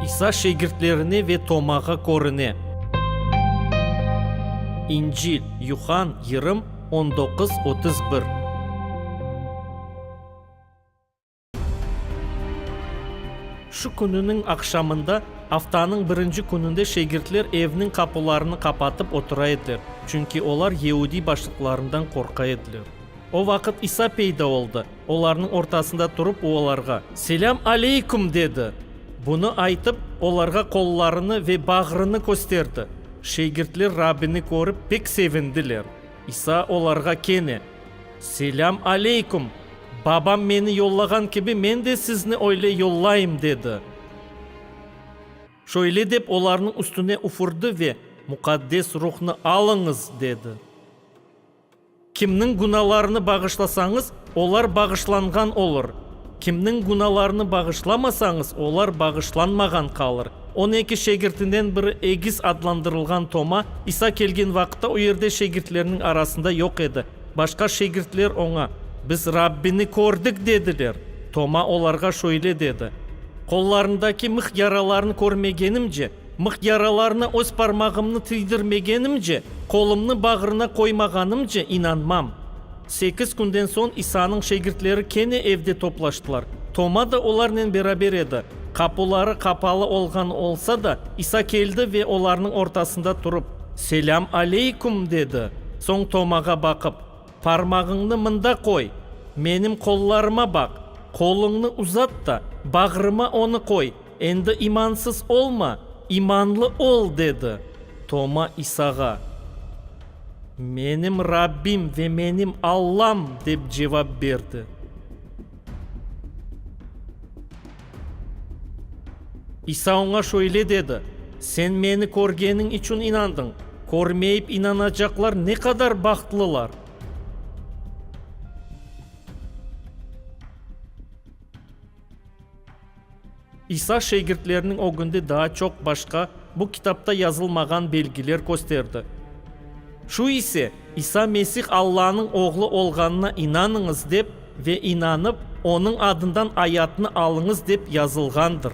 İsa şegirtlerine ve Tomağa körüne. İncil, Yuhann, yirım, on doquz, otuz bir. Şu kününiñ aqşamında, aftanıñ birinci kününde şegirtler evniñ qapularını qapatıp otura ediler, çünki olar yeudiy başlıqlarından qorqa ediler. O vaqıt İsa peyda oldı. Olarnıñ ortasında turıp o olarğa, Selâm aleyküm! dedi. Bunı aytıp, olarğa qollarını ve bağrını kösterdi. Şegirtler Rabbini körip pek sevindiler. İsa olarğa kene, Selâm aleyküm! Babam meni yollağan kibi men de sizni öyle yollayım, dedi. Şöyle dep olarnıñ üstüne üfürdi ve, Muqaddes Ruhnı alıñız! dedi. Kimniñ günâlarını bağışlasañız, olar bağışlanğan olur, kimniñ günâlarını bağışlamasañız, olar bağışlanmağan qalır. On eki şegirtinden biri egiz adlandırılğan Toma, İsa kelgen vaqıtta o yerde şegirtleriniñ arasında yoq edi. Başqa şegirtler oña, Biz Rabbini kördik, dediler. Toma olarğa şöyle dedi, Qollarındaki mıh yaralarını körmegenimce, Mıh yaralarına öz parmağımnı tiydirmegenimce, qolumnı bağrına qoymağanımce inanmam. Sekiz künden soñ İsanıñ şegirtleri kene evde toplaştılar. Toma da olarnen beraber edi. Qapuları qapalı olğan olsa da, İsa keldi ve olarnıñ ortasında turıp, Selâm aleyküm! dedi. Soñ Tomağa baqıp, Parmağıñnı mında qoy, menim qollarıma baq, qoluñnı uzat da, bağrıma onı qoy, Endi imansız olma, imanlı ol, dedi Toma İsağa. Menim Rabbim ve menim Allam, dep cevap berdi. İsa oña şöyle dedi, Sen meni körgeniñ içün inandıñ, körmeyip inanacaqlar ne qadar bahtlılar! İsa şegirtleriniñ ögünde daa çoq başqa bu kitapta yazılmağan belgiler kösterdi. Şu ise, İsa Mesih Allanıñ Oğlu olğanına inanıñız dep ve inanıp, onıñ adından ayatnı alıñız dep yazılğandır.